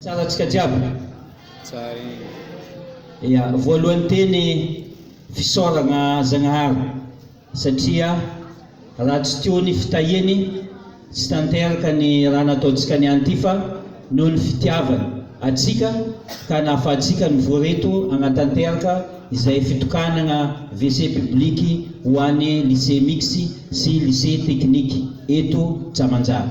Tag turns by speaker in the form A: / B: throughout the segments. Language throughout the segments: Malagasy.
A: Tsara tsika jiaby? Tsara iny. Ya, voalohany teny fisaoragna Zagnahary satria raha tsy teo ny fitahiany tsy tanteraka ny raha nataontsika niany ty fa noho ny fitiavany atsika ka nahafahantsika nivory eto hagnatanteraka izay fitokanagna WC publique ho any lycée mixte sy lycée technique eto Tsamanjara.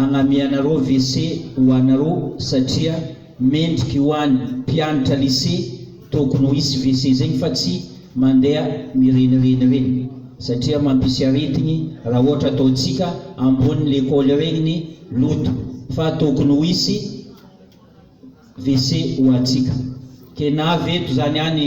A: Agnamianareo WC ho anareo satria mendriky ho any mpianatra lycée tokony ho hisy WC zegny fa tsy mandeha mirenireny regny satria mampisy aretigny raha ohatra ataontsika ambony lekôly regny ny loto fa tokony ho hisy WC ho antsika. Kenavo eto zany any.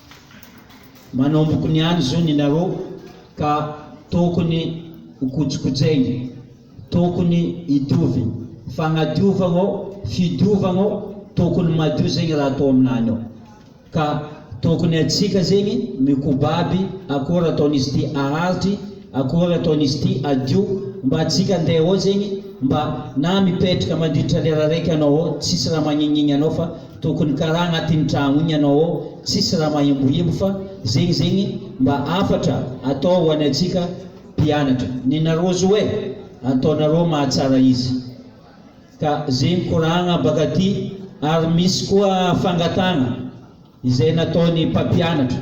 A: Manomboka ny any zony inareo ka tokony ho kojikojaina, tokony hitovy, fagnadiovagna ô, fidiovagna ô, tokony madio zegny raha atao aminany ao, ka tokony atsika zegny mikobaby akôry ataon'izy ty aharitry, akôry ataon'izy ty adio, mba atsika andeha ao zegny mba na mipetraka mandritra lera raiky anao ao tsisy raha magnignigny anao fa Tokony karaha agnatin'ny tragno igny anao ao tsisy raha mahembohembo fa zegny zegny mba hafatra atao ho anay tsika mpianatra. Nina Rozo eh! Ataonareo mahatsara izy ka zegny koragna baka aty ary misy koa fangatagna izay nataon'ny mpampianatra.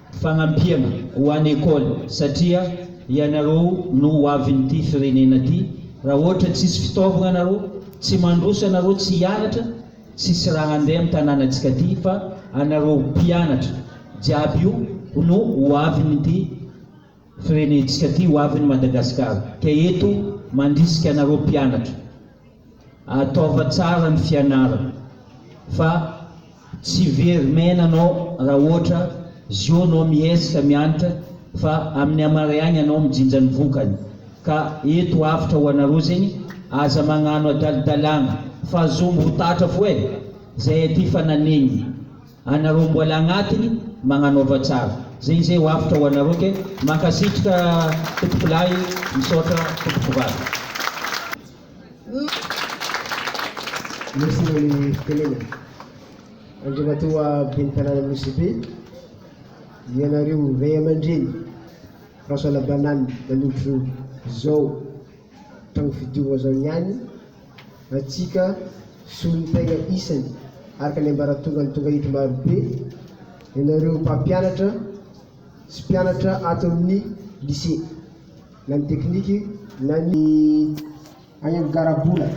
A: Fagnampiana ho any école satria ianareo no ho avin'ity firenena ty, raha ohatra tsisy fitaovagna anareo, tsy mandroso anareo tsy hianatra, tsisy raha handeha am tananantsika ty fa anareo mpianatra jiaby io no ho avin'ity. firenentsika ty ho aviny Madagascar ka eto mandrisika anareo mpianatra ataova tsara ny fianarana fa tsy very maina anao ra oatra zio anao miesika miantra fa aminy amare agny anao mijinja ny vokany ka eto avotra ho anareo zegny aza magnano adalidalagna fa zombo ho tatra foe zay aty fa nanegny Anareo mbola agnatiny magnanaova tsara ze izay ho avotra ho anareo ke mankasitrka tompoko lahy misaotra tompoko vavy. Merci nony fitenena. Andriamatoa Ben'ny Tanàna Nosy Be, ianareo Ray aman-dReny François Labanane nanomboka zao tragno fidiovana zao niany antsika solontenga isany araka ny ambaratongan'ny tongahitry marobe ianareo mpampianatra sy mpianatra ato amin'ny Lycée na ny tekniky na ny any amin'ny garabola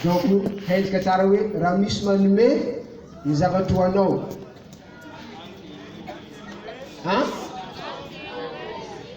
A: donc haintsika tsara hoe raha misy manome ny zavatra ho anao an!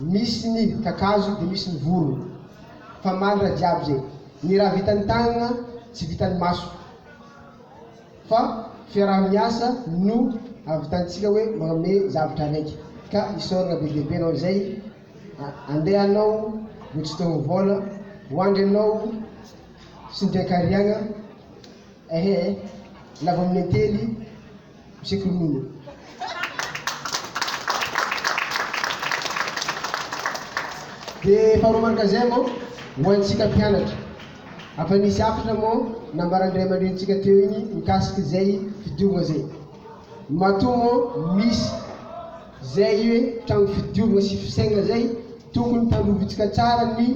A: Misy ny kakazo dia misy ny vorona. Fa mandra jiaby zay. Ny raha vitan'ny tanana tsy vitan'ny maso. Fa fiaraha-miasa no ahavitantsika hoe manome zavtra araiky. Ka isaorana be dia be anao izay. Andeha anao vao tsy te ho vola. Ho andry anao sy ny mpiankariagna. Ehe eh. Lava amin'ny antely. Tsikolomina. Dia faharoa mandrakizay moa, ho antsika mpianatra. Afa nisy hafatra moa nambaran'ny ray aman-drenintsika teo iny mikasika izay fidiovana izay. Matoa moa misy izay hoe trano fidiovana sy fisainana izay, tokony tandrovintsika tsara ny.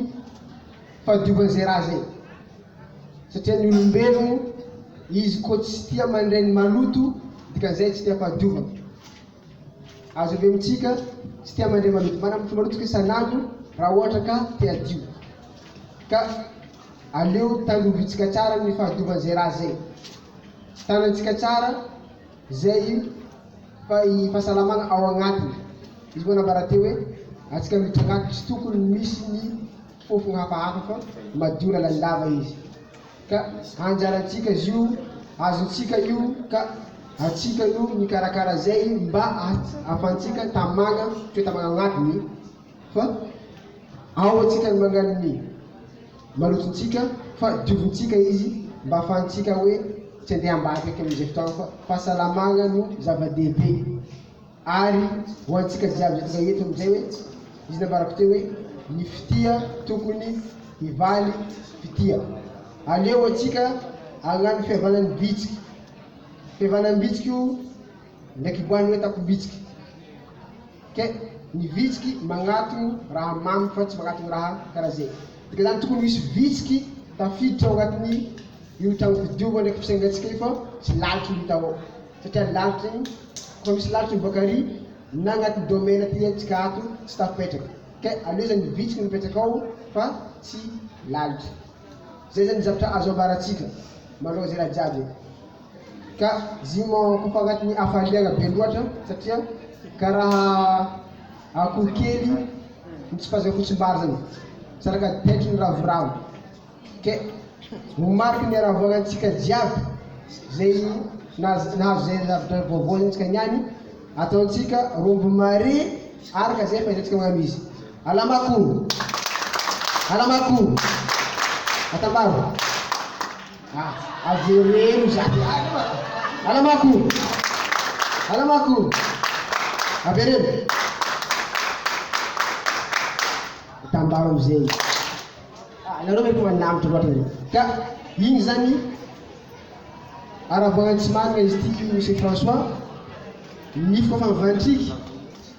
A: Fahadiovany izay raha izay. Satria ny olombelogno, izy koa tsy tia mandray ny maloto, dikan'izay tsy tia fahadiovana. Azo avy amintsika, tsy tia mandray maloto. Manambotra maloto isika isan'andro raha ohatra ka te hadio. Ka aleo tandrovintsika tsara ny fahadiovany izay raha izay. Tanantsika tsara izay fa i fahasalamana ao agnatiny. Izy moa nambara teo hoe, antsika miditra agnaty tsy tokony misy ny. fofona hafahafa fa madio lalandava izy ka anjarantsika azy io azontsika io ka atsika no mikarakara azay mba ahafantsika tamagna toetamagna agnatiny fa ao atsika ny mangala ny malotontsika fa diovintsika izy mba ahafantsika oe tsy andeha ambadika amizay fotoagna fa fahasalamagna no zavadehibe. Ary ho antsika jiaby aty eto amin'izay hoe, izy nambarako teo hoe, ny fitia tokony hivaly fitia. Aleo antsika hagnano fihavanam-bitsika, fihavanam-bitsika io ndraiky hiboahany hoe takom-bitsika. Ke ny vitsiky magnatogno raha mamy fa tsy magnatogno raha karaha zay. Dika zany tokony ho hisy vitsiky tafiditra ao agnatin'ny io tragno fidiova ndraiky fisainantsika io fa tsy lalitra no hita ao. satria lalitra iny koa misy lalitra io boaka ary na anaty domaine aty antsika ato tsy tafipetraka ka aleo zany vitsy no mipetraka ao fa tsy lalitra zay zany zavatra azo ambaratsika manoloana zay raha jiaby e ka zimo ko fa anatin'ny hafaliana be loatra satria karaha akoho kely ny tsy fahazoana fotsimbary zany saraka taitry ny ravoravo Dia ho mafy ny haravoana antsika jiaby zay nahazo zay zava-dra vaovao zay tsika niany ataontsika rombo mare araka zay fahitantsika magnano izy alamako alamako atambaro ah avereno zany alamako alamako avereno atambaro amizay Ah nareo ve tonga nianatra loatra ve? Ka iny zany aravoana tsy marina izy ity Monsieur François nifiko efa mivantriky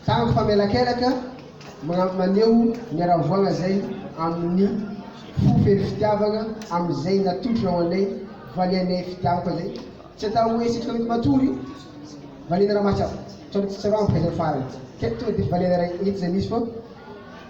A: tango fa mielakelaka magna- maneho ny aravoana zay amin'ny fo feno fitiavana amin'izay natolotrinao anay valianay fitiavako zay tsy atao hoe isika mety matory valianay raha mahatsiaro tsar- tsarao amiko zay farany ka tonga de valianay raha eto zay misy fa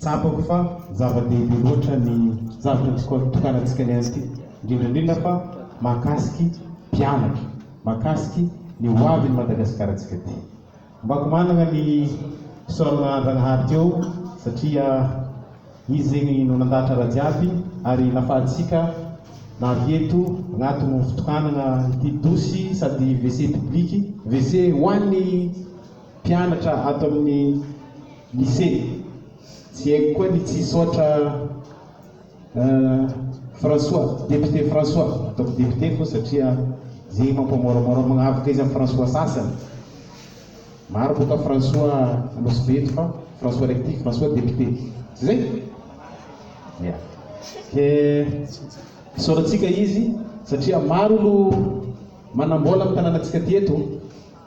A: Tsapako fa zava-dehibe loatra ny zavatra nitokanantsika ny an'ity, indrindra indrindra fa mahakasiky mpianatra, mahakasiky ny ho avin'i Madagasikaratsika ity. Ombako manana ny fisaorana Andragnahary teo satria izy zegny no nandahatra raha jiaby ary nafahatsika navy eto agnatin'ny fitokanagna ity dosy sady WC public, WC ho an'ny mpianatra ato amin'ny Ise. Tsy haiko koa ny tsy hisaotra François, député François, ataoko député fô satria zay mampamoramora magnavoka izy am François sasany. Maro boka François Anosibe eto fa François raiky ty François député. Tsy zay? Ya. Ke isaorantsika izy satria maro olo manambola am tananatsika ty eto.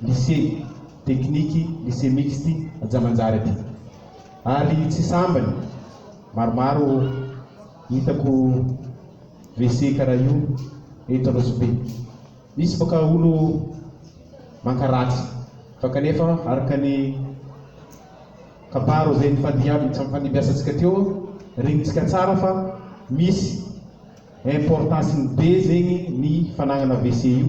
A: Lycée, tekniky, lycée mixte, Antsamanjary aty. Ary tsy sambany, maromaro hitako WC karaha io eto Anosibe. Misy baka olo mankaratsy fa kanefa araka ny kabaro izay nifandimbiasantsika teo, regnintsika tsara fa misy importance-ny be zegny ny fanagnana WC io.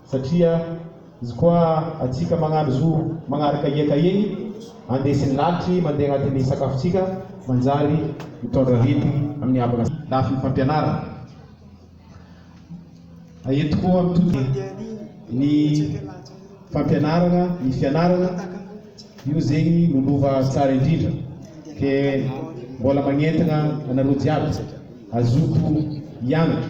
A: Satria izy koa atsika magnano zo magnaraka hiaka eny andesiny lalitry mandeha agnatin'ny sakafontsika manjary mitondra arety amin'ny havana sy lafiny fampianarana. Aeto koa mitody ny fampianarana ny fianarana io zegny no lova tsara indrindra ke mbola magnentagna anareo jiaby azoto hianatra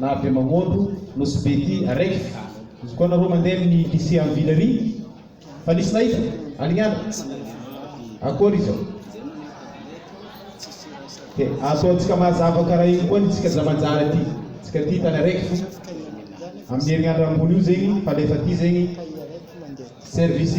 A: Na be mamondo nosy be ty araiky. Izy koa nareo mandeha amin'ny lycée am Villerie fa nisy nahita? Alignana? Akory izao? Dia ataontsika mazava karaha iny koa ny tsika zamanjara ty tsika ty tany araiky fo amin'ny herinandro ambony io zegny falefa ty zegny service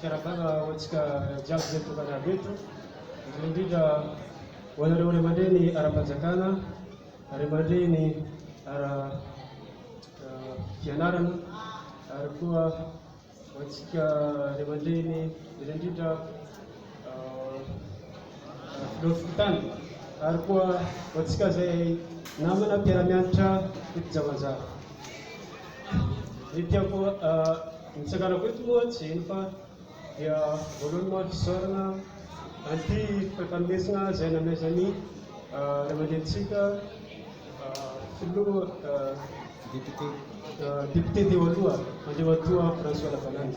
A: Fiarahabana ho antsika jiaby izay tonga niaro eto, indrindra indrindra ho anareo ray aman-dreny ara-panjakana, ray aman-dreny ara fianarana ary koa ho antsika ray aman-dreny indrindra indrindra Filoha Fokontany, ary koa ho antsika izay namana mpiara-mianatra eto Jawanjawa. Ny tiako ny tsakarako eto moa tsy inona fa dia voalohany maro fisaorana an'ity fampandresina izay namezan'ny ray aman-drenintsika Filoha Député teo aloha, Andriamatoa François Lavalany.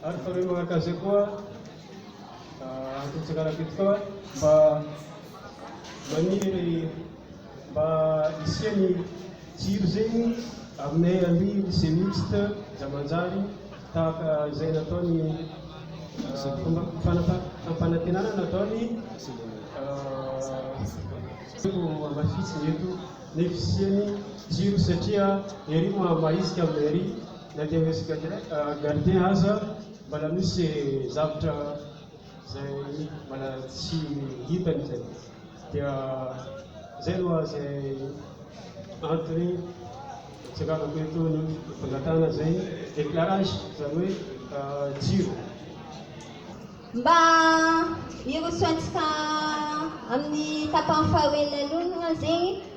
A: Ary faneno araka izay koa antony fitsanganako eto koa mba maniry mba hisian'ny jiro zegny aminay amin lycée mixte za manjary tahaka izay nataony fomba fampanantenana nataony tiako hamafisina eto ny fisian'ny jiro satria ery maha maha isika aminay ery Na dia resy gardien aza mbala misy zavtra zay mbala tsy hitany zay dia zay aloha zay antony nitsiravako eto ny fangatahana zay eclarage zany hoe jiro. Mba hirosoantsika amin'ny tapany faharoa elaeloa aloha zegny.